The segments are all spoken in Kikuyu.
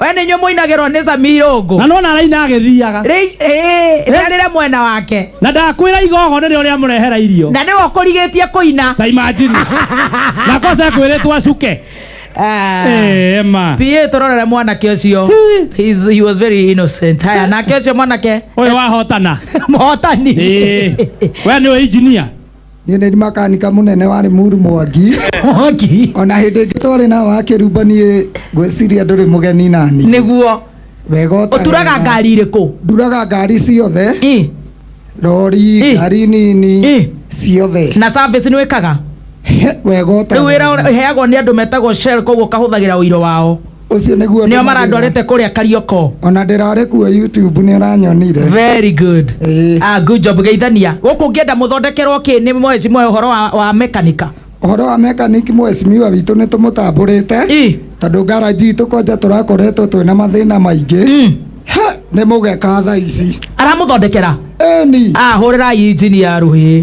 we nä inyuä moinagärwo nä zamirungu na nona araina agĩthiaga rä arä re mwena wake na ndakwĩra igogo nĩrĩ ũrĩa mũrehera irio na nä we å kå rigä tie kå ina ta imajini na kosa kwĩrĩtwo acuke Eh, ema pia tå rorere mwanake å cio He's- he was very innocent haya nake å cio mwanake ũyũ wahotana mũhotani Eh, we nĩwe injinia niä nä makanika må nene warä muru mwangi Mwaki. ona hä ndä ä ngä twarä na wakä rumba niä ngwäciria ndå rä må geni nani Nĩguo. wega å Ũturaga ngari irĩkũ? nduraga ngari ciothe Ĩ. rori Ĩ. ngari nini Ĩ. ciothe Na service nĩ wĩkaga? wega å Rĩu wĩra ũrĩa- ũheagwo nĩ andũ metagwo Shell koguo kahũthagĩra ũiro wao. ũcio nĩguo nĩo marandwarĩte kũrĩa karioko ona ndĩrarĩ kuo youtube nĩ ũranyonire very good Ĩĩ. ah, good job geithania gũkũ ngĩenda mũthondekerwo kĩ nĩ mwezi mwe ũhoro wa, wa mekanika ũhoro wa mechanic mwesimiwa witũ nĩ tũmũtambũrĩte Ĩ. tondũ ngaraji itũ kwanja tũrakoretwo twĩna mathĩna maingĩ Mm. He, nĩ mũgeka thaa ici aramũthondekera eni ah, hũrĩrai injini ya rũhĩ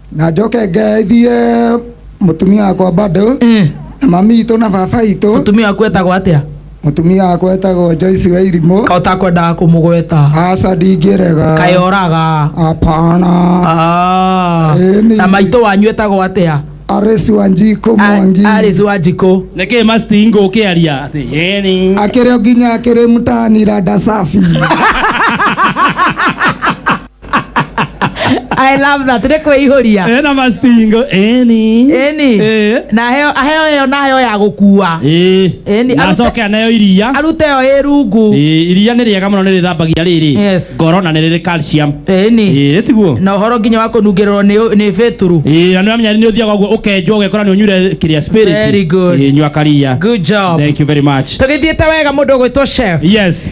na njoke ngeithie mũtumia wakwa bado Eh, na mami itũ na baba itũ mũtumia waku etagwo atĩa mũtumia wakwa etagwo Joyce wa irimũ ka ũtakwendaga kũmũgweta aca ndingĩrega kaĩ oraga apana Ah, Eh, nĩ- na maitũ wanyu etagwo atĩa arĩci wa njikũ mwangi arĩci wa njikũ nĩkĩ mastingo ũkĩaria atĩ yeni akĩrĩ o nginya akĩrĩ mũtanira ndacabi I love that. Nĩ kwĩihũria. Eh, na mastingo eni Eni. Eh. Na heo aheo ĩyo na heo ya gũkua. Eh. Eni, na arute- acoke anayo iria Arute ĩyo ĩ rungu. Eh, iria nĩ rĩega mũno nĩ rĩthambagia rĩrĩ Yes. ngoro na nĩ rĩrĩ calcium Eni. Eh, tiguo Na ũhoro nginya wa kũnungĩrĩrwo nĩ nĩ beturu. Eh, na nĩ wamenya nĩ ũthiaga ũguo ũkenjwo ũgekora nĩ ũnyure kĩrĩa spirit Very good. Eh, nyua karia Good job. thank you very much Tũgĩthiĩte wega mũndũ ũgwĩtwo chef. yes